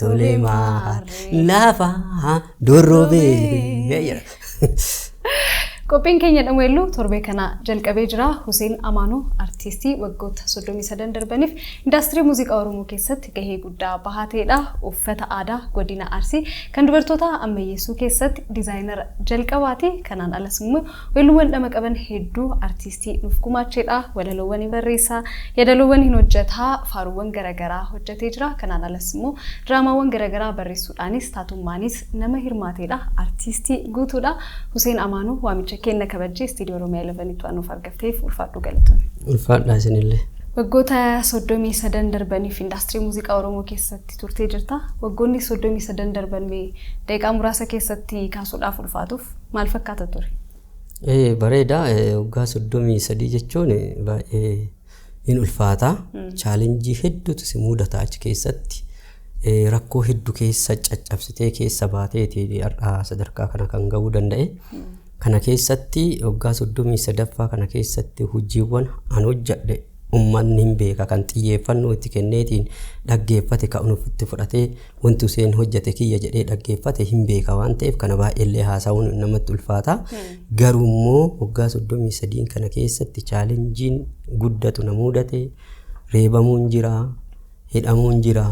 Tolee maal lafa dorrobee jedha. Qophiin keenya dhameellu torbee kana jalqabee jira. Huseen Amaanuu artiistii waggoota 33 darbaniif indaastirii muuziqaa Oromoo keessatti gahee guddaa bahateedha. Uffata aadaa godina Arsii kan dubartootaa ammayyeessuu keessatti diizaayinara jalqabaati. Kanaan alas immoo Weelluuwwan dhama qaban hedduu artiistii nuuf gumaacheedha. Walaloowwan hin barreessa, yadaloowwan hin hojjeta, faaruuwwan garagaraa hojjetee jira. Kanaan alas immoo diraamaawwan garagaraa barreessuudhaanis taatummaanis nama hirmaateedha. Artiistii guutuudha. Huseen Amaanuu waamicha keenna kabajjee Istiidiyoo Oromiyaa 11tti waan nuuf argamteef ulfaadhuu galatoomi. Ulfaadhaa isinillee. Waggoota 33 darbaniif indaastirii muuziqaa Oromoo keessatti turtee jirta. Waggoonni 33 darban mee daqiiqaa muraasa keessatti kaasuudhaaf ulfaatu. maal fakkaata ture? Ee, bareeda ee, waggaa soddomii sadii jechuun ee, baay'ee hin ulfaata chaalenjii hedduutu si mudata achi keessatti ee, rakkoo hedduu keessa caccabsitee keessa baateeti har'a sadarkaa kana kan ga'uu danda'e kana keessatti waggaa soddomii sadaffaa kana keessatti hojiiwwan an hojjedhe Ummanni hin beeka kan xiyyeeffannoo itti kenneetiin dhaggeeffate kan ofitti fudhatee wanti Huseen hojjete kiyya jedhee dhaggeeffate hin beeka waan ta'eef kana baay'eellee haasa'uun namatti ulfaata. Garuu immoo waggaa 33 kana keessatti chaalenjiin guddatu na mudate reebamuun jira. hidhamuun jira,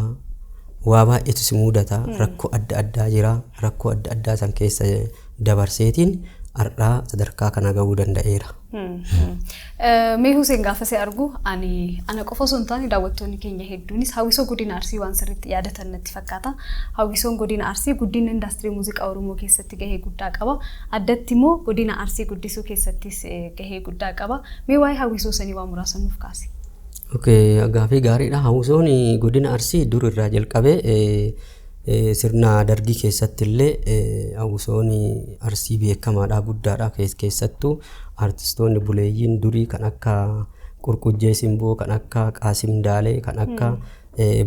waa baay'eetu si muudata, rakkoo adda addaa jira, rakkoo adda addaa san keessa dabarseetiin har'aa sadarkaa kana ga'uu danda'eera. Mee Huseen gaafa si argu ani ana qofa osoo hin taane daawwattoonni keenya hedduunis hawwisoo godina Arsii waan sirriitti yaadatan natti fakkaata. Hawwisoon godina Arsii guddina indaastirii muuziqaa Oromoo keessatti gahee guddaa qaba. Addatti immoo godina Arsii guddisuu keessattis gahee guddaa qaba. Mee waa'ee hawwisoo sanii waa muraasa nuuf kaasi. Gaafii gaariidha. Hawwisoon godina Arsii dur irraa jalqabee sirna dargii keessatti illee hawwisoon Arsii beekamaadha guddaadha keessattuu artistoonni buleeyyiin durii kan akka Qurqujjee Simboo kan akka Qaasim Daalee kan akka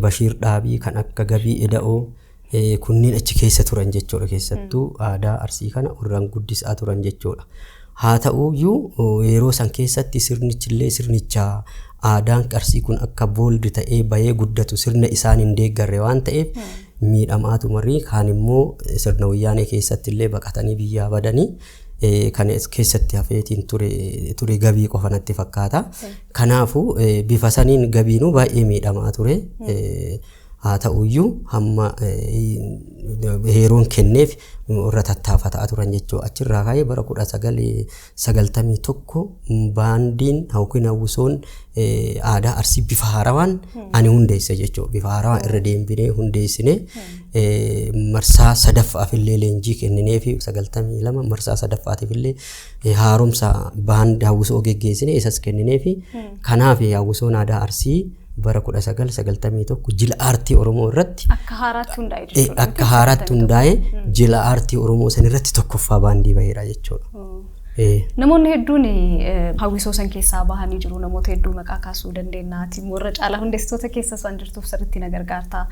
Bashiir Dhaabii kan akka Gabii Eda'oo kunneen achi keessa turan jechuudha keessattuu aadaa arsii kana warran guddisaa turan jechuudha. Haa ta'uyyuu yeroo san keessatti sirnichillee sirnicha aadaan arsii kun akka booldi ta'ee bayee guddatu sirna isaan hin deeggarre waan ta'eef miidhamaa tumarrii kaan immoo sirna wayyaanee keessatti illee baqatanii biyyaa badanii kan keessatti hafeetiin ture ture gabii qofa natti fakkaata. Kanaafuu bifa saniin gabiinuu baay'ee miidhamaa ture. Haa ta'u iyyuu hamma heeruun kenneef irra tattaafataa turan jechuudha. Achirraa ka'ee bara 1991 baandiin yookiin hawwisoon aadaa arsii bifa haarawaan ani hundeesse jechuudha. Bifa haarawaan irra deembinee hundeessine marsaa sadaffaaf illee leenjii kenninee fi 92 marsaa sadaffaatiif illee haaromsa baandii hawwisoo geggeessine isas kenninee fi kanaaf hawwisoon aadaa arsii bara 1991 jila aartii Oromoo irratti Akka haaraatti hundaa'e eh, jechuudha. akka haaraatti hundaa'e jila aartii Oromoo san irratti tokkoffaa baandii baheera jechuudha. Eh, Namoonni hedduun eh, hawwisoo san keessaa bahanii jiru. Namoota hedduu maqaa kaasuu dandeenya. Ati immoo irra caalaa hundeessitoota keessa isaan jirtuuf sirriitti na gargaarta.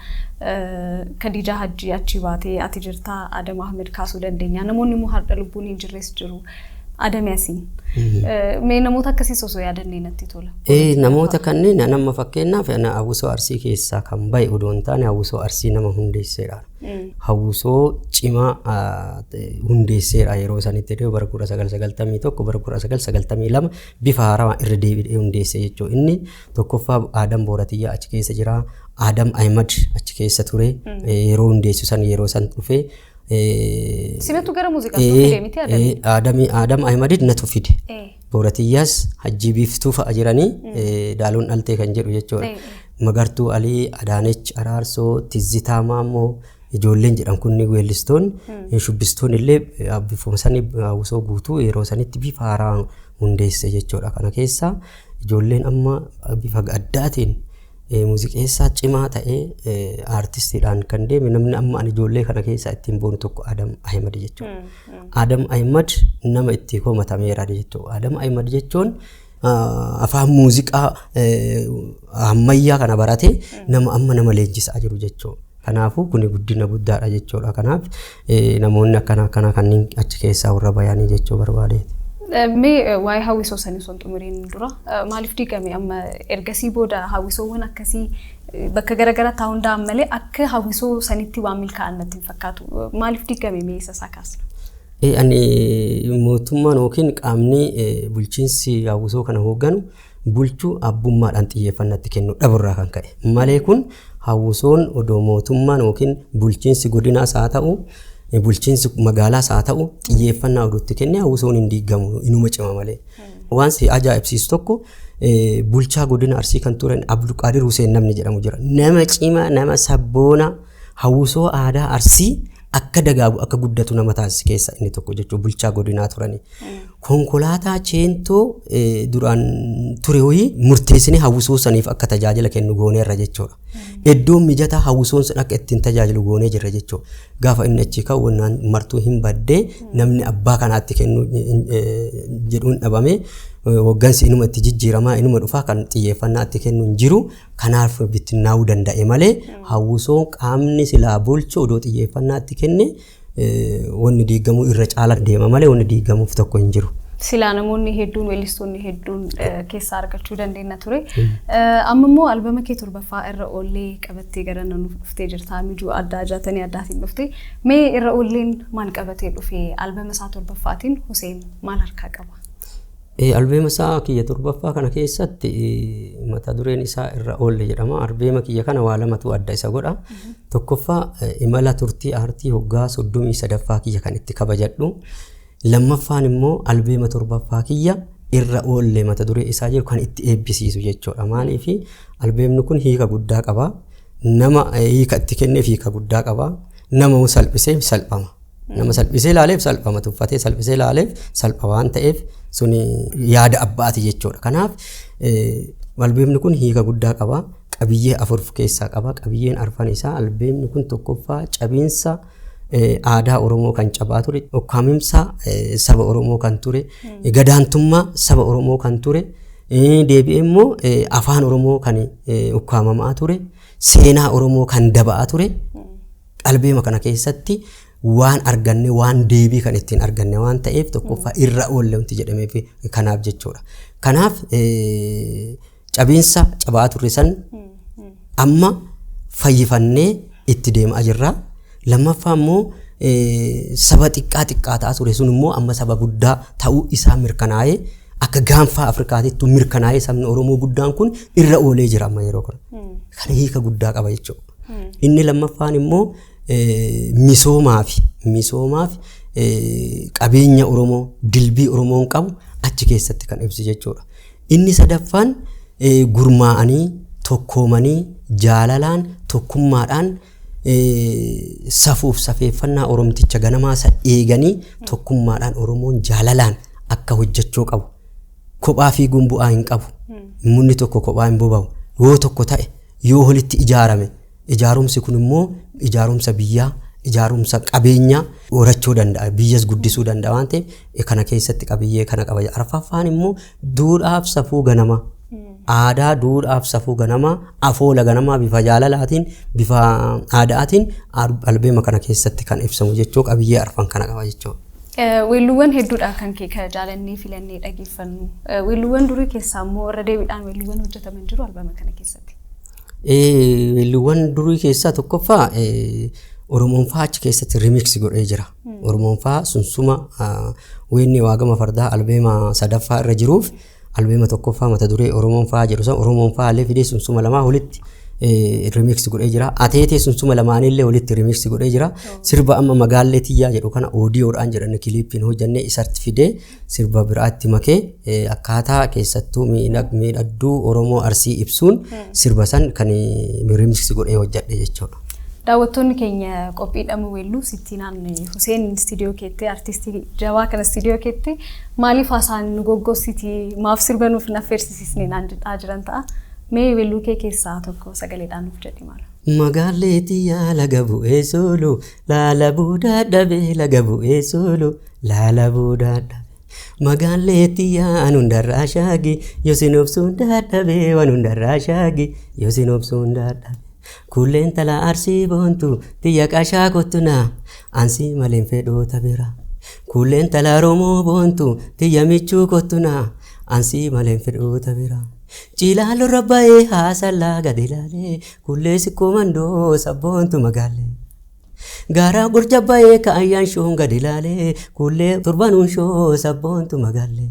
Eh, Khadiijaa Hajjii achi baatee ati jirta. Adam Ahmed kaasuu dandeenya. Namoonni immoo har'a lubbuun hin jirres jiru. Adame asiin. Mee namoota akkasiis osoo yaadannee natti tola. Ee, namoota kanneen ani amma fakkeenyaaf ana hawwisoo arsii keessaa kan ba'e odoo hin taane hawwisoo arsii nama hundeesseedha. Hawwisoo cimaa ah, te- hundeesseedha yeroo sanitti ta'e bara 1991 bara 1992 bifa haarawaa irra deebi'ee hundeesse jechuudha. Inni tokkoffaa Aadam Booratiyyaa achi keessa jira. Aadam Ahimad achi keessa ture. Eh, Yeroo hundeessu san yeroo san dhufee Sinatu gara muuziqaatti nu fide miti Adamii. Aadamii Aadam Ahimadid natu fide. Eh. Booratiyyaas hajjii biiftuu fa'a jiranii eh, daaloon dhaltee kan jedhu jechuudha. Eh, eh. Magartuu Alii, Adaanech Araarsoo, Tizzitaa Maammoo ijoolleen jedhan kunni weellistoon shubbistoon illee eh, bifa sanii hawwisoo guutuu yeroo sanitti bifa haaraa hundeesse jechuudha. Kana keessaa ijoolleen amma bifa adda ta'een Muuziqeessaa cimaa ta'ee aartistiidhaan kan deeme namni amma ani ijoollee kana keessaa ittiin boonu tokko Adam Ahimad jechuudha. Adam Ahimad nama itti komatameera jechuudha. Adam Ahimad jechuun afaan muuziqaa ammayyaa kana baratee nama amma nama leenjisaa jiru jechuudha. Kanaafuu kuni guddina guddaadha jechuudha. Kanaaf namoonni akkana akkanaa kanneen achi keessaa warra bayanii jechuu barbaadeeti. Mee waa'ee hawwisoo sanii osoo hin xumuriin dura maaliif diigame amma ergasii booda hawwisoowwan akkasii bakka garaagaraa taa'uu hunda'an malee akka hawwisoo sanitti waan milkaa'an natti hin fakkaatu. Maaliif diigame mee isa isaa kaasna? Ani mootummaan yookiin qaamni bulchiinsi hawwisoo kana hoogganu bulchuu abbummaadhaan xiyyeeffannatti kennu dhaburraa kan ka'e malee kun hawwisoon odoo mootummaan yookiin bulchiinsi godinaas haa ta'u bulchiinsi magaalaas haa ta'u xiyyeeffannaa oduutti kennee hawwisoon hin diigamu inuma cima malee. Waan si ajaa'ibsiisu tokko bulchaa godina Arsii kan turan Abdulqaadir Huseen namni jedhamu jira. Nama cima nama sabboona hawwisoo aadaa Arsii akka dagaagu akka guddatu nama taasise keessa inni tokko jechuun bulchaa godinaa turani. Konkolaataa cheentoo eh, duraan ture wayii murteessinee hawwisoo saniif akka tajaajila kennu gooneerra jechuudha. Iddoon mijataa hawwisoon sun akka ittiin tajaajilu goonee jirra jechuudha. Gaafa inni achi ka'u wannaan martuu hin baddee namni abbaa kanaatti kennu eh, jedhuun dhabamee eh, hoggansi inuma itti jijjiiramaa inuma dhufaa kan xiyyeeffannaa itti kennu hin jiru Kanaaf bittinnaa'uu danda'e malee hawwisoon qaamni silaa bulchu odoo xiyyeeffannaa itti kenne wanni diigamuu irra caala deema malee wanni diigamuuf tokko hin jiru. Silaa namoonni hedduun weellistoonni hedduun keessaa argachuu dandeenya ture. Amma immoo albama kee torbaffaa irra oollee qabattee gara nuuf dhuftee jirta. Mijuu addaa jaatanii addaatiin dhufte. Mee irra oolleen maal qabatee dhufe? Albama isaa torbaffaatiin Huseen maal harkaa qaba? Albeema isaa kiyya torbaffaa kana keessatti mata dureen isaa irra oolle jedhama. Albeema kiyya kana waa lamatu adda isa godha. Tokkoffaa imala turtii aartii hoggaa soddomii sadaffaa kiyya kan itti kabajadhu. Lammaffaan immoo albeema torbaffaa kiyya irra oolle mata duree isaa jedhu kan itti eebbisiisu jechuudha. Maaliif albeemni kun hiika guddaa qaba. Nama hiika itti kenneef hiika guddaa qaba. Nama salphiseef salphama. Nama salphisee ilaaleef salphama tuffatee salphisee ilaaleef salpha waan ta'eef suni yaada abbaati jechuudha. Kanaaf albeemni kun hiika guddaa qaba. Qabiyyee afur of keessaa qaba. Qabiyyeen arfan isaa albeemni kun tokkoffaa cabiinsa aadaa Oromoo kan cabaa ture, ukkaamimsa saba Oromoo kan ture, gadaantummaa saba Oromoo kan ture, deebi'ee immoo afaan Oromoo kan ukkaamamaa ture, seenaa Oromoo kan daba'aa ture. Qalbeema kana keessatti waan arganne waan deebii kan ittiin arganne waan ta'eef tokkoffaa irra oolle wanti jedhameef kanaaf jechuudha. Kanaaf eh, cabiinsa cabaa turre san amma fayyifannee itti deemaa jirra. Lammaffaa immoo eh, saba xiqqaa xiqqaa ta'aa ture sun immoo amma saba guddaa ta'uu isaa mirkanaa'ee akka gaanfaa Afrikaatittu mirkanaa'ee sabni Oromoo guddaan kun irra oolee jira amma yeroo kana. Kana hiika guddaa qaba jechuudha. Inni lammaffaan immoo misoomaafi misoomaafi qabeenya Oromoo dilbii Oromoon qabu achi keessatti kan ibsu jechuudha. Inni sadaffaan gurmaa'anii tokkoomanii jaalalaan tokkummaadhaan safuuf safeeffannaa Oromticha ganamaa isa eeganii tokkummaadhaan Oromoon jaalalaan akka hojjechuu qabu Kophaa fiiguun bu'aa hin qabu. Munni tokko kophaa hin boba'u. Yoo tokko ta'e, yoo walitti ijaarame, ijaarumsi kun immoo ijaarumsa biyyaa, ijaarumsa qabeenyaa horachuu danda'a. Biyyas guddisuu danda'a waan ta'eef eh, kana keessatti qabiyyee kana qaba. Arfaffaan immoo duudhaaf safuu ganamaa. Aadaa duudhaaf safuu ganamaa, afoola ganamaa bifa jaalalaatiin, bifa aadaatiin al- albeema kana keessatti kan ibsamu jechuu qabiyyee arfan kana qaba jechuudha. Weelluuwwan hedduudha kan kee ka jaalannee filannee dhageeffannu. Weelluuwwan durii keessaa immoo irra deebiidhaan weelluuwwan hojjetaman jiru albama kana keessatti. Weelluuwwan durii keessaa tokkoffaa Oromoon faa achi keessatti remix godhee jira. Oromoon faa sunsuma weennii waagama fardaa albeema sadaffaa irra jiruuf. Mm. Albeema tokkoffaa mata duree Oromoon fa'aa jedhu san Oromoon fa'aa illee fidee sunsuma lamaa walitti remix godhee jira. Ateetee sunsuma lamaanii illee walitti remix godhee jira. Sirba amma magaallee tiyyaa jedhu kana oodiyoodhaan jedhan kiliippiin hojjannee isatti fidee sirba biraatti makee eh, akkaataa keessattuu miidhag- miidhagduu Oromoo Arsii ibsuun sirba san kan remix godhee hojjadhe jechuudha. Daawwattoonni keenya qophii dhamuu weelluu sittiinaan Huseen istiidiyoo keetti artistii jabaa kana istiidiyoo keetti maaliif haasaan nu goggossiti maaf sirba nuuf hin affeersisisne naan jedhaa jiran ta'a. Mee weelluu kee keessaa tokko sagaleedhaan nuuf jedhi maala. Magaallee tiyyaa laga bu'ee sooluu laala buudaa dhabee laga bu'ee sooluu laala buudaa dhabee. Magaallee tiyyaa an hundarraa shaagi yosin obsuun dadhabee wan hundarraa shaagi yosin obsuun dadhabee. Kuullee intala arsii boontu tiyya qashaa kottu naa ansii maleen fedhoota bira. Kuullee intala Oromoo boontu tiyya michuu kottu naa ansii maleen fedhoota bira. Ciilaaloo irra ba'ee haasallaa gadi ilaalee kuullee sikkoo mandoo sabboontu magaallee. Gaaraa burja ba'ee kaayyaan shoon gadi ilaalee kuullee turbanuun shoo sabboontu magaallee.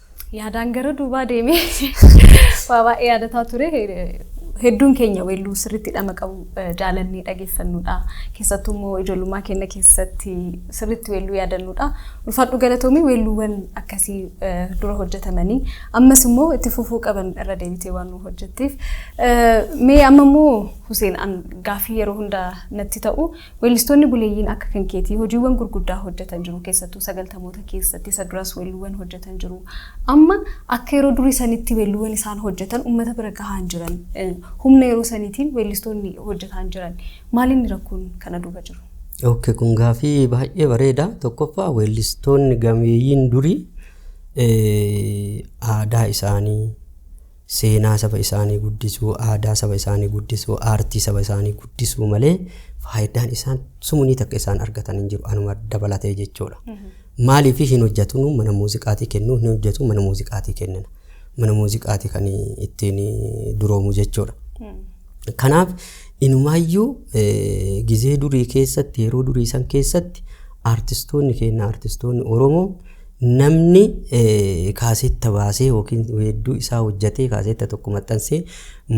Yaadaan gara duubaa deemee waa baay'ee yaadataa ture. Hedduun keenya weelluu sirriitti dhama qabu eh, jaalannee dhageeffannudha. Keessattuu immoo ijoollummaa keenya keessatti sirriitti weelluu yaadannudha. Ulfaadhu galatoomii weelluuwwan akkasii eh, dura hojjetamanii ammas immoo itti fufuu qaban irra deebitee waan nu hojjetteef. Eh, Mee amma immoo Huseen an gaafii yeroo hunda natti ta'u Weellistoonni buleeyyiin akka kan keetii hojiiwwan gurguddaa hojjetan jiru keessattuu sagaltamoota keessatti isa duras weelluuwwan hojjetan jiru. Amma akka yeroo durii sanitti weelluuwwan isaan hojjetan uummata bira gahaan jiran eh, humna yeroo saniitiin weellistoonni hojjetaan jiran maalinni rakkoon kana duuba jiru? Ok, kun gaafii baay'ee bareeda. Tokkoffaa weellistoonni gameeyyiin durii eh, aadaa isaanii seenaa saba isaanii guddisuu, aadaa saba isaanii guddisuu, aartii saba isaanii guddisuu malee faayidaan isaan sumunii takka isaan argatan hin jiru anuma dabalatee jechuudha. Maaliif hin hojjetu nu mana muuziqaatii kennuu hin hojjetu mana muuziqaatii kennina. Mana muuziqaatii kan ittiin duroomu jechuudha. Kanaaf inumaayyuu eh, gizee durii keessatti yeroo durii san keessatti aartistoonni keenya aartistoonni Oromoo Namni kaaseetta baasee yookiin weedduu isaa hojjatee kaaseetta tokko maxxansee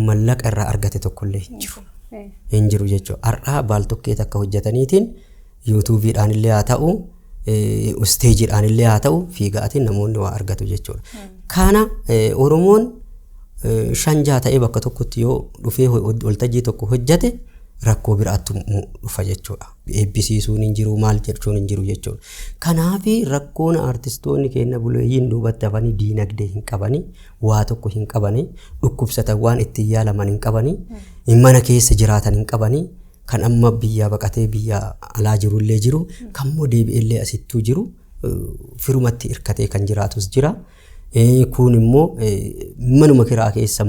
mallaqa irraa argate tokkollee hin jiru. Hin jiru jechuudha. Har'aa baaltokkee takka hojjataniitiin yuutuubiidhaan illee haa ta'u isteejiidhaan illee haa ta'u fiigaatiin namoonni waa argatu jechuudha. Kana Oromoon shan jaha ta'ee bakka tokkotti yoo dhufee waltajjii tokko hojjate rakkoo biraattu dhufa jechuudha. eebbisiisuun hin jiru maal jechuun hin jiru jechuudha. Kanaaf rakkoon artistoonni keenya buleeyyiin duubatti hafanii diinagdee hin qabani, waa tokko hin qabani, dhukkubsatan waan ittiin yaalaman hin qabani, mana keessa jiraatan hin qabani, kan amma biyyaa baqatee biyya alaa jiru illee jiru, kan immoo deebi'ee illee asittuu jiru eh, firumatti hirkatee kan jiraatus jira. Kuun immoo manuma kiraa keessa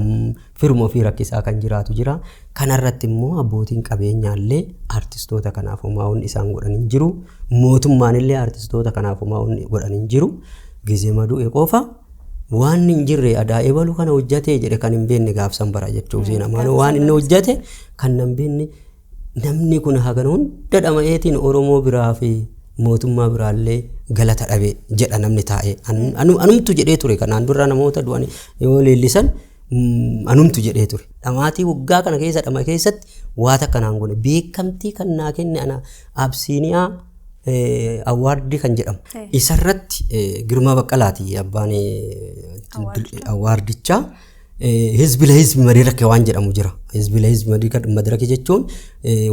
firuma ofii rakkisaa kan jiraatu jira. Kanarratti immoo abbootiin qabeenyaallee artistoota kanaaf homaa wanni isaan godhan hin jiru. Mootummaanillee artistoota kanaaf homaa wanni godhan hin jiru. Gizee madu'e qofa waan hin jirre adaa ebalu kana hojjatee jedhe kan hin beekne gaafsan bara jechuuf seenamaan waan inni hojjate kan nan beekne Namni kun hagan hunda dhama'eetiin Oromoo biraa fi mootummaa biraallee galata dhabe jedha namni taa'ee. An- anu- Anumtu jedhee ture kanaan dura namoota du'an yoo leellisan mm, anumtu jedhee ture. Dhamaatii waggaa kana keessa dhama keessatti waa takka naan godhe beekamtii kan naa kenne ana Absiiniyaa eh, awwaardii kan jedhamu. Isarratti eh, Girmaa Baqqalaati abbaan eh, awwaardichaa. Hizbi lahizbi madirake waan jedhamu jira. Hizbi lahizbi madirake jechuun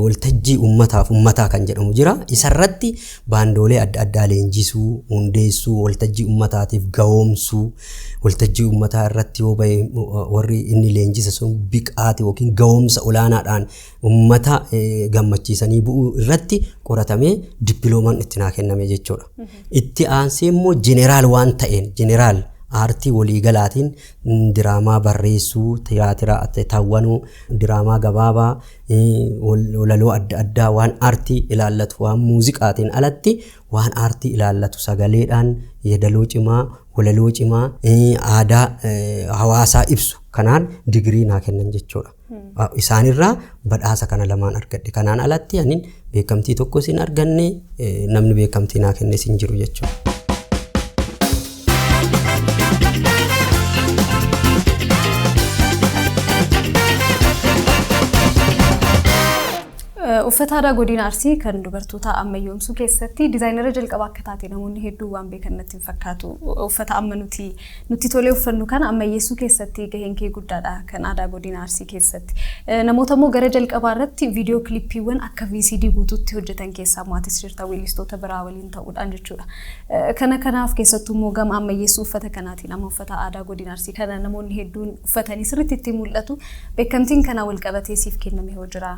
waltajjii ummataaf ummataa kan jedhamu jira. Isarratti baandoolee adda addaa leenjisuu, hundeessuu, waltajjii ummataatiif gahoomsuu, waltajjii ummataa irratti yoo bahe warri inni leenjise sun biqaate yookiin gahoomsa olaanaadhaan ummata gammachiisanii bu'uu irratti qoratamee dippiloomaan itti naa kenname jechuudha. Itti aansee immoo jeneraal waan ta'een jeneraal aartii waliigalaatiin diraamaa barreessuu, tiyaatira tawwanuu, diraamaa gabaabaa, walaloo adda addaa waan aartii ilaallatu waan muuziqaatiin alatti waan aartii ilaallatu sagaleedhaan yeedaloo cimaa, walaloo cimaa, aadaa hawaasaa ibsu kanaan digirii naa kennan jechuudha. isaanirraa badhaasa kana lamaan argadhe. Kanaan alatti anin beekamtii tokkos hin arganne namni beekamtii naa kennes hin jiru jechuudha. Uffata aadaa godina Arsii kan dubartootaa ammayyoomsuu keessatti dizaayinara jalqabaa akka taate namoonni hedduu waan beekan natti hin fakkaatu. Uffata amma nuti nutti tolee uffannu kana ammayyeessuu keessatti gaheen kee guddaadha kan aadaa godina Arsii keessatti. Namoota immoo gara jalqabaa irratti viidiyoo kilippiiwwan akka VCD guutuutti hojjetan keessaa maatis jirta weellistoota biraa waliin ta'uudhaan jechuudha. Kana kanaaf keessattuu immoo gama ammayyeessuu uffata kanaatiin amma uffata aadaa godina Arsii kana namoonni hedduun uffatanii sirriitti itti mul'atu. Beekamtiin kanaa wal qabatee siif kenname hoo jira.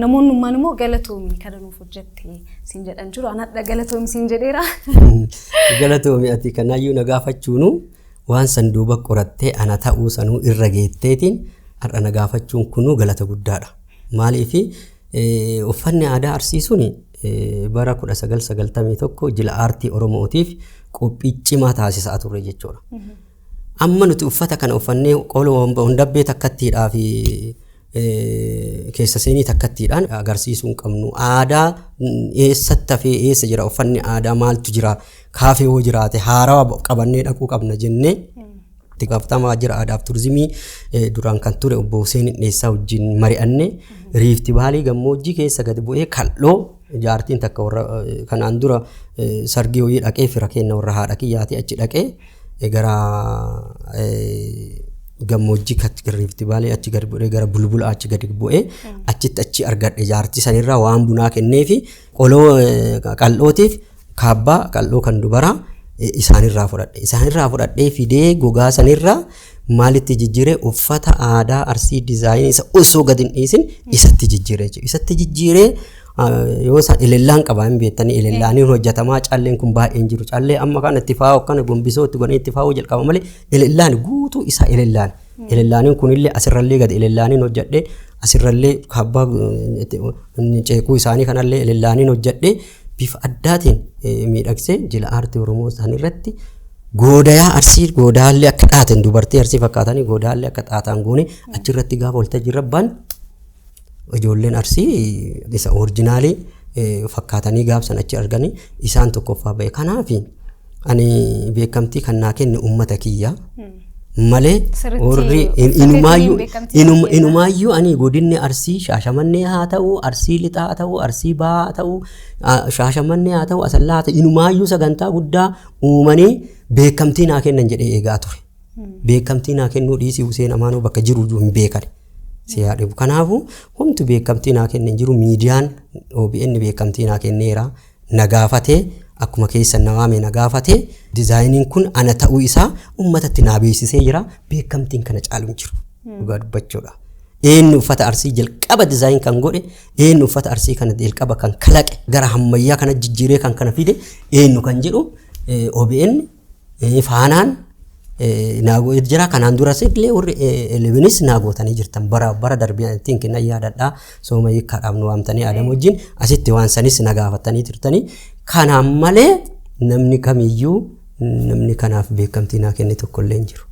Namoonni ummaan immoo galatoomi kana nuuf jette siin jedhan jiru. An hadha galatoomi siin jedheera. Galatoomi ati kanaayyuu na gaafachuunu waan san duuba qorattee ana ta'uu sanuu irra geetteetiin har'a na gaafachuun kunuu galata guddaadha. Maaliif uffanni aadaa arsii sun bara 1991 jila aartii Oromootiif qophii cimaa taasisaa turre jechuudha. Amma nuti uffata kana uffannee qola wambahuun dabbee takkattiidhaa fi keessa seenii takkattiidhaan agarsiisuu hin qabnu. Aadaa eessatti hafee eessa jira uffanni aadaa maaltu jira kaafee hoo jiraate haaraa qabannee dhaquu qabna jennee itti gaafatamaa waajjira aadaaf turizimii duraan kan ture obbo Huseen Dheessaa wajjin mari'anne riifti baalii gammoojjii keessa gad bu'ee kal'oo Jaartiin takka warra kanaan dura sargii wayii dhaqee fira keenna warra haadha kiyyaati achi dhaqee gara gammoojjii Riifti Vaalii achi gad bu'ee gara bulbula achi gad bu'ee achitti achi argadhe jaartii sanirraa waan bunaa kennee fi qoloo qal'ootiif kaabbaa qal'oo kan dubaraa eh, isaanirraa fudhadhe isaanirraa fudhadhee fidee gogaa sanirraa maalitti jijjiire uffata aadaa arsii dizaayinii isa osoo gad hin dhiisin isatti jijjiire jechuudha isatti jijjiiree ah, yoo isaan elellaan qabaa hin beektanii elellaaniin hojjetamaa calleen kun baay'een jiru callee amma kana itti faa'u akkana gombisoo itti godhanii itti faa'u jalqaba malee elellaan guutuu isaa elellaan elellaaniin kunillee asirrallee gad elellaaniin hojjedhee asirrallee kaabbaa eh, itti- ceekuu isaanii kanallee elellaaniin hojjedhee bifa addaatiin miidhagsee jila aartii Oromoo isaan irratti goodayaa arsii goodaallee akka dhaaten dubartii arsii fakkaatanii goodaallee akka dhaataan goone achirratti gaafa waltajjii irra ba'an ijoolleen arsii isa orijinaalii fakkaatanii gaabsan achi arganii isaan tokkoffaa ba'e kanaafi. Ani beekamtii kan naa kenne uummata kiyya malee Sirriitti warri in- sirriitti inumaayyuu beekamtii inuma- kennaa. inumaayyuu ani godinni arsii shaashamannee haa ta'u arsii lixaa haa ta'u arsii bahaa haa ta'u a- shaashamannee haa ta'u asallaa haa ta'u inumaayyuu sagantaa guddaa uumanii beekamtii naa kennan jedhee eegaa ture. Beekamtii naa kennuu dhiisii Huseen Amaanoo bakka jiru iyyuu hin beekan. Si haa dhibu. Kanaafuu homtu beekamtii naa kenne hin jiru miidiyaan OBN beekamtii naa kenneera. na gaafate, akkuma keessan na waamee na gaafate, dizaayiniin kun ana ta'uu isaa uummatatti naa beeksisee jira, beekamtiin kana caalu hin jiru dhugaa dubbachuudha. Eenyu uffata arsii jalqaba dizaayin kan godhe, eenyu uffata arsii kana jalqaba kan kalaqe, gara hammayyaa kana jijjiiree kan kana fide eenyu kan jedhu eh, OBN Ee, faanaan ee, naa go- jira kanaan duras illee warri ee, elevenis naa gootanii jirtan bara bara darbee ittiin kenna yaadadhaa sooma hiikkaadhaaf nu waamtanii aadam wajjin asitti waan sanis na gaafatanii turtanii kanaan malee namni kamiyyuu namni kanaaf beekamtii naa kenne tokkollee hin jiru.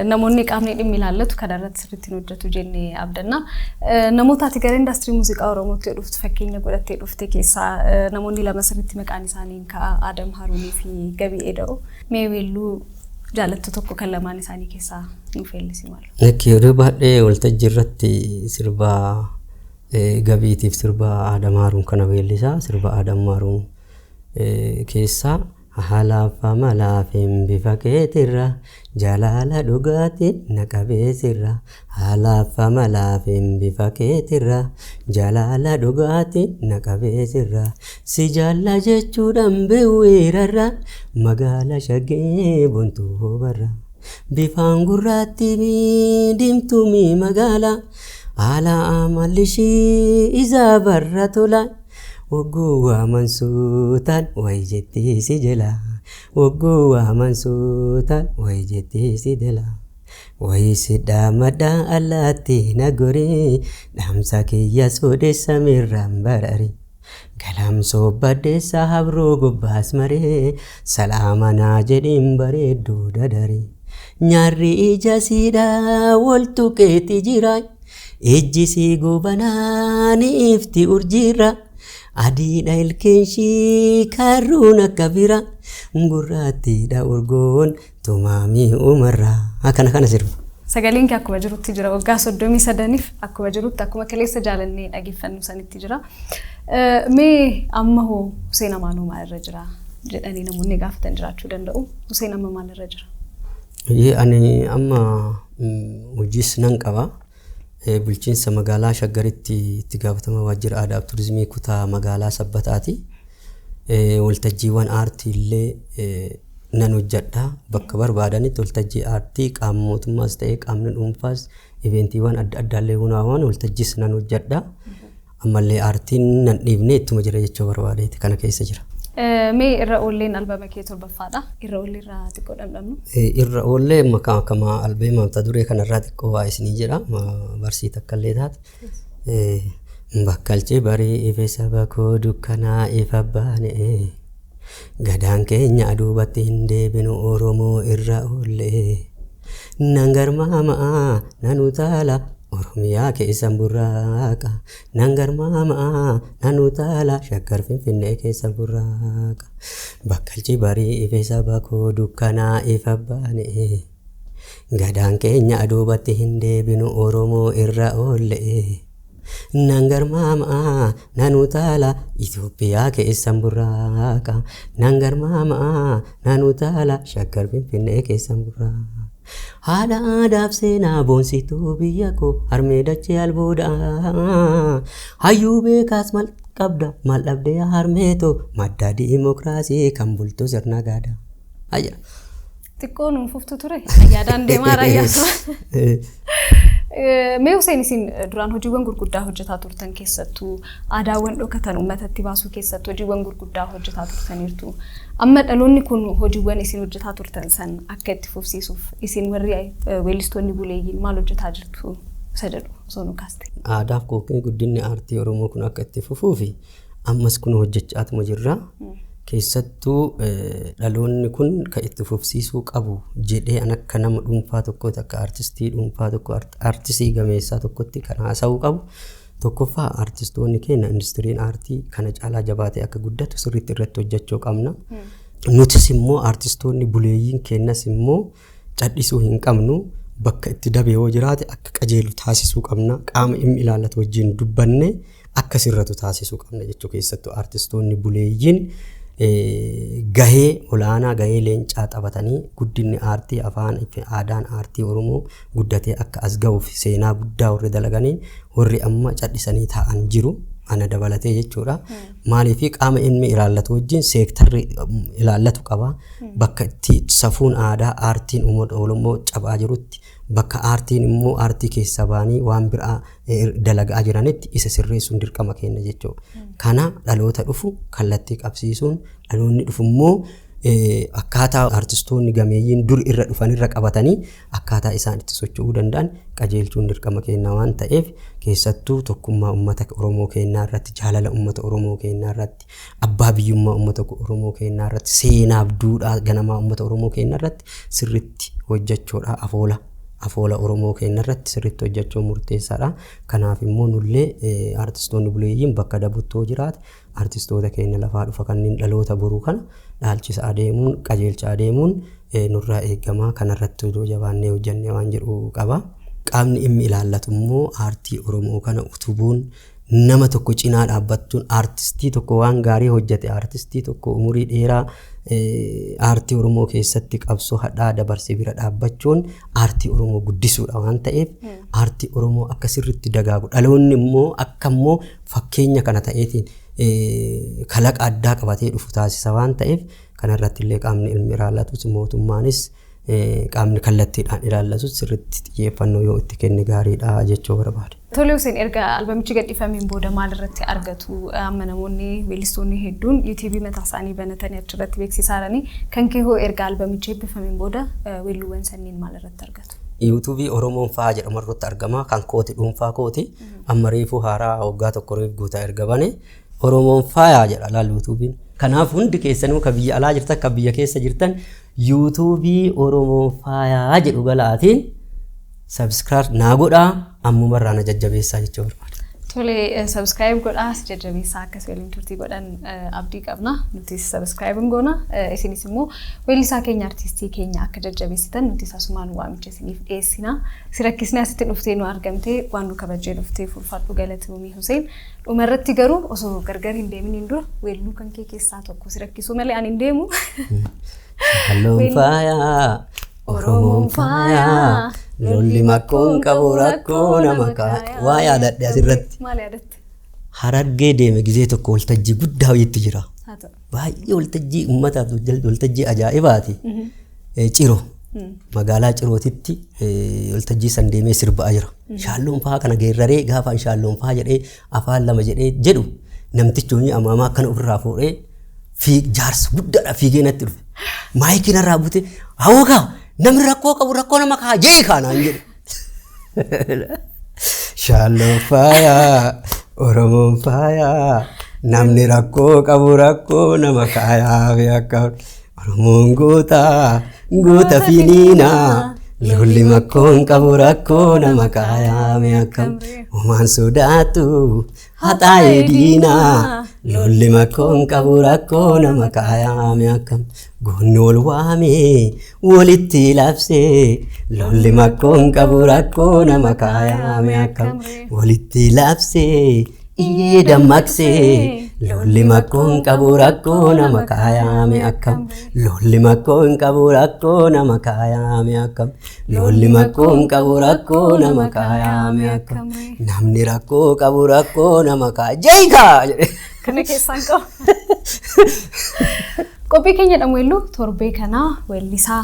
Namoonni qaamni dhimmi ilaallatu kana irratti sirriitti hin hojjetu jennee abdanna. Namoota ati gara indaastirii muuziqaa Oromootti dhuftu fakkeenya godhattee dhufte keessaa namoonni lama sirriitti maqaan isaanii hin ka'a Adam Haruunii fi Gabii Eda'u. Mee weelluu jaalattu tokko kan lamaan isaanii keessaa nuuf weellisi maal? Lakki yeroo baay'ee waltajjii irratti sirba gabiitiif sirba Adam Haaruun kana weellisa. Sirba Adam Haaruun keessaa Halaaf amalaafin bifa keetirra Jalaala dhugaatin na qabee sirra Halaaf amalaafin bifa keetirra Jalaala dhugaatin na qabee sirra Si jaalla jechuudhan biwwiirarra Magaala shaggee bontuu hoobarra Bifaan gurraattii mi dimtuu mi magaala Haala amalli ishii izaa barra tola Wogguu waaman suutaan way jetti si jela Wogguu waaman suutaan way jetti si dela Wayii si dhaammadha allaatti na gori Dhaamsa kiyya suudhis samiirraan barari Galamsoo baddeessa habroo gubbaas maree Salaama naa jedhiin bareedduu dadari Nyaarri ija siidhaa wol tuqeeti jiraay Ijji sii goobanaa ni ifti urjiirra Adiidha ilkeenshii karruun akka bira Gurraattiidha urgoon tumaamii umarra Akkana kana sirba. Sagaleen kee akkuma jirutti jira waggaa soddomii sadaniif akkuma jirutti akkuma kaleessa jaalannee dhageeffannu sanitti jira. Mee amma hoo Huseen Amaanoo maalirra jira jedhanii namoonni gaafatan jiraachuu danda'u. Huseen amma maalirra jira? Ani amma hojiis nan qaba. Bulchiinsa Magaalaa Shaggaritti Itti Gaafatamaa Waajjira Aadaaf Turizimii Kutaa Magaalaa Sabbataati. Waltajjiiwwan aartii illee nan hojjedha. Bakka barbaadanitti waltajjii aartii qaama mootummaas ta'ee qaamni dhuunfaas iveentiiwwan adda addaa illee hunaawan waltajjiis nan hojjedha. Ammallee aartiin nan dhiifne ittuma jira jechuu barbaadeeti kana keessa jira. Mee irra oolleen albama kee torbaffaadha. Irra oollee irraa xiqqoo dhandhamnu. Irra oollee amma kan akkama albeema mata duree kanarraa xiqqoo waa isinii jedha barsii takka illee taate. Bakkalchi barii ife saba koo dukkanaa ifa baane gadaan keenya aduubatti hin deebinu Oromoo irra oollee. Nan garmaama nan utaala Oromiyaa keessan burraaqa Nan garmaama nan utaala Shaggar Finfinnee keessa burraaqa Bakkalchi barii ife saba koo dukkanaa ifa baane Gadaan keenya duubatti hin deebinu Oromoo irra oolle Nan garmaama nan utaala Itoophiyaa keessan burraaqa Nan garmaama nan utaala Shaggar Finfinnee keessan burraaqa Haadha aadaaf seenaa boonsituu biyya koo harmee dachee albuuda Hayyuu beekaas mal qabda mal dhabdee harmee too madda diimokiraasii kan bultu sirna gaadaa. Ajira. Xiqqoo nuun fuftu ture. Yaadaan deemaa raayyaasuma. Mee Huseen isin duraan hojiiwwan gurguddaa hojjetaa turtan keessattuu aadaawwan dhokatan uummatatti baasuu keessatti hojiiwwan gurguddaa hojjetaa turtaniirtu. Amma dhaloonni kun hojiiwwan isin hojjetaa turtan san akka itti fufsiisuuf isin warri weellistoonni buleeyyiin maal hojjetaa jirtu isa jedhu osoo nu kaaste. Aadaaf yookiin guddinni aartii Oromoo kun akka itti fufuufi Ammas kun hojjechaatuma jirra. Keessattuu dhaloonni kun kan itti fufsiisuu qabu jedhee an akka nama dhuunfaa tokkooti akka artistii dhuunfaa tokko artisii gameessaa tokkotti kan haasa'uu qabu. Tokkoffaa artistoonni keenya industiriin aartii kana caalaa jabaatee akka guddatu sirriitti irratti hojjechuu qabna. Nutis immoo artistoonni buleeyyiin keenyas immoo cadhisuu hin qabnu. Bakka itti dabe yoo jiraate akka qajeelu taasisuu qabna. Qaama dhimmi ilaallatu wajjin dubbanne akka sirratu taasisuu qabna jechuu keessattuu artistoonni buleeyyiin eh, gahee olaanaa gahee leencaa taphatanii guddinni aartii afaan fi aadaan aartii Oromoo guddatee akka as ga'uuf seenaa guddaa warri dalaganii warri amma cadhisanii taa'an jiru. ana dabalatee jechuudha. Maaliif qaama inni ilaallatu wajjin seektarri um, ilaallatu qaba. bakka itti safuun aadaa aartiin uummata Oromoo cabaa jirutti, bakka aartiin immoo aartii keessaa ba'anii waan biraa dalagaa jiranitti isa sirreessuun dirqama keenya jechuudha. Kana dhaloota dhufu kallattii qabsiisuun dhaloonni dhufu immoo akkaataa aartistoonni gameeyyiin dur irra dhufan irra qabatanii akkaataa isaan itti socho'uu danda'an qajeelchuun dirqama keenya waan ta'eef keessattuu tokkummaa uummata Oromoo keenyaa irratti jaalala uummata Oromoo keenyaa irratti abbaa biyyummaa uummata Oromoo keenyaa irratti seenaaf duudhaa ganamaa uummata Oromoo keenyaa irratti sirriitti hojjechuudha afoola afoola Oromoo keenya irratti sirriitti hojjechuun murteessaadha. Kanaaf immoo nullee artistoonni buleeyyiin bakka dabuttoo jiraate artistoota keenya lafaa dhufa kanneen dhaloota boruu kana dhaalchisa adeemuun qajeelcha adeemuun nurraa eegamaa kanarratti hojii jabaannee hojjennee waan jedhu qaba. Qaamni inni ilaallatu immoo aartii Oromoo kana utubuun nama tokko cinaa dhaabbattuun aartistii tokko waan gaarii hojjate aartistii tokko umurii dheeraa aartii Oromoo keessatti qabsoo hadhaa dabarse bira dhaabbachuun aartii Oromoo guddisuudha waan ta'eef aartii Oromoo akka sirriitti dagaagu dhaloonni immoo akka immoo fakkeenya kana ta'eetiin kalaqa addaa qabatee dhufu taasisa waan ta'eef kanarratti illee qaamni ilmi ilaallatuus mootummaanis qaamni kallattiidhaan ilaallatus sirriitti xiyyeeffannoo yoo itti kenne gaariidha jechuu barbaade. Tole Hussein erga albamichi gadhiifameen booda maal irratti argatu? Amma namoonni weellistoonni hedduun yuutuubii mataa isaanii banatanii achirratti beeksisaa jiranii kan kee hoo erga albamichi eebbifameen booda weelluuwwan sanniin maal irratti argatu? Yuutuubii Oromoon fa'aa jedhamu irratti argama kan kooti dhuunfaa kooti amma reefuu haaraa waggaa tokko reef guutaa erga bane Oromoon fa'aa jedha laal yuutuubiin. Kanaaf hundi keessanuu ka biyya alaa jirtan ka biyya keessa jirtan Yuutuubii Oromoon Faayaa jedhu galaatiin subscribe naa godhaa ammuma irraa na jajjabeessaa jechuu barbaada. Tole subscribe godhaa si jajjabeessaa akkasii waliin turtii godhan abdii qabna. Nutis subscribe hin goona. Isinis immoo weellisaa keenya artistii keenya akka jajjabeessitan nutis asumaan waamicha isiniif dhiyeessina. Si rakkisnee asitti dhuftee nu argamtee waan nu kabajjee dhufteef ulfaadhu galatoomii Huseen. Dhuma irratti garuu osoo gargar hin deeminiin dura weelluu kan kee keessaa tokko si rakkisuu malee ani hin deemu. Halluun faayaa, Oromoon faayaa, lolli makkoon qabu rakkoo nama kaaya. Waa yaadadhe asirratti. Maal yaadatte? Harargee deeme gizee tokko waltajjii guddaa wayiitti jira. Haa ta'u. Baay'ee waltajjii ummataaf waltajjii ajaa'ibaati. Ciro magaalaa Cirootitti waltajjii san deemee sirbaa jira. Shaalloon fa'aa kana geerraree gaafaan shaalloon fa'aa jedhee afaan lama jedhee jedhu namtichi hojii amaamaa akkana ofirraa fuudhee fiig jaarsa guddaadha fiigee natti dhufe. Maayikii narraa bute hawwakaa namni rakkoo qabu rakkoo nama kaa jee kaanaan jedhe. Shaalloon faayaa, Oromoon faayaa, namni rakkoo qabu rakkoo nama kaayaa fi akka Oromoon goota, goota fi niina. Lolli makkoon qabu rakkoo nama kaayaa fi akka Omaan sodaatu, haxaa'ee diinaa lolli makkoon qabu rakkoo nama kaayaame akkam goonni wal waamee walitti labsee lolli makkoon qabu rakkoo nama kaayaame akkam walitti labsee iyyee dammaqsee lolli makkoon qabu rakkoo nama kaayaame akkam lolli makkoon qabu rakkoo nama kaayaame akkam Loolli makkoo hin qabu rakkoo nama kaayaame akka. Namni rakkoo qabu rakkoo nama kaaya. Jeekaa! Kana keessaan qabu. Qophii keenya dhamuellu torbee kanaa weellisaa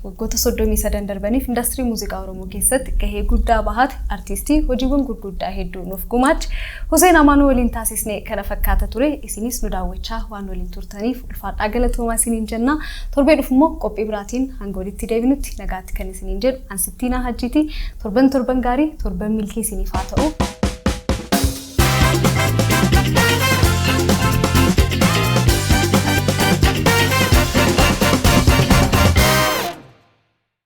waggoota soddomii sadan darbaniif indaastirii muuziqaa Oromoo keessatti gahee guddaa bahate artiistii hojiiwwan gurguddaa hedduu nuuf gumaache Huseen Amaanuu waliin taasisne kana fakkaata ture. Isinis nu daawwachaa waan waliin turtaniif ulfaadhaa galatoomaa isiniin jenna. Torbee dhufu immoo qophii biraatiin hanga walitti deebinutti nagaatti kan isiniin jedhu an Sittiinaa Hajjiiti. Torban torban gaarii, torban milkii isiniif haa ta'u.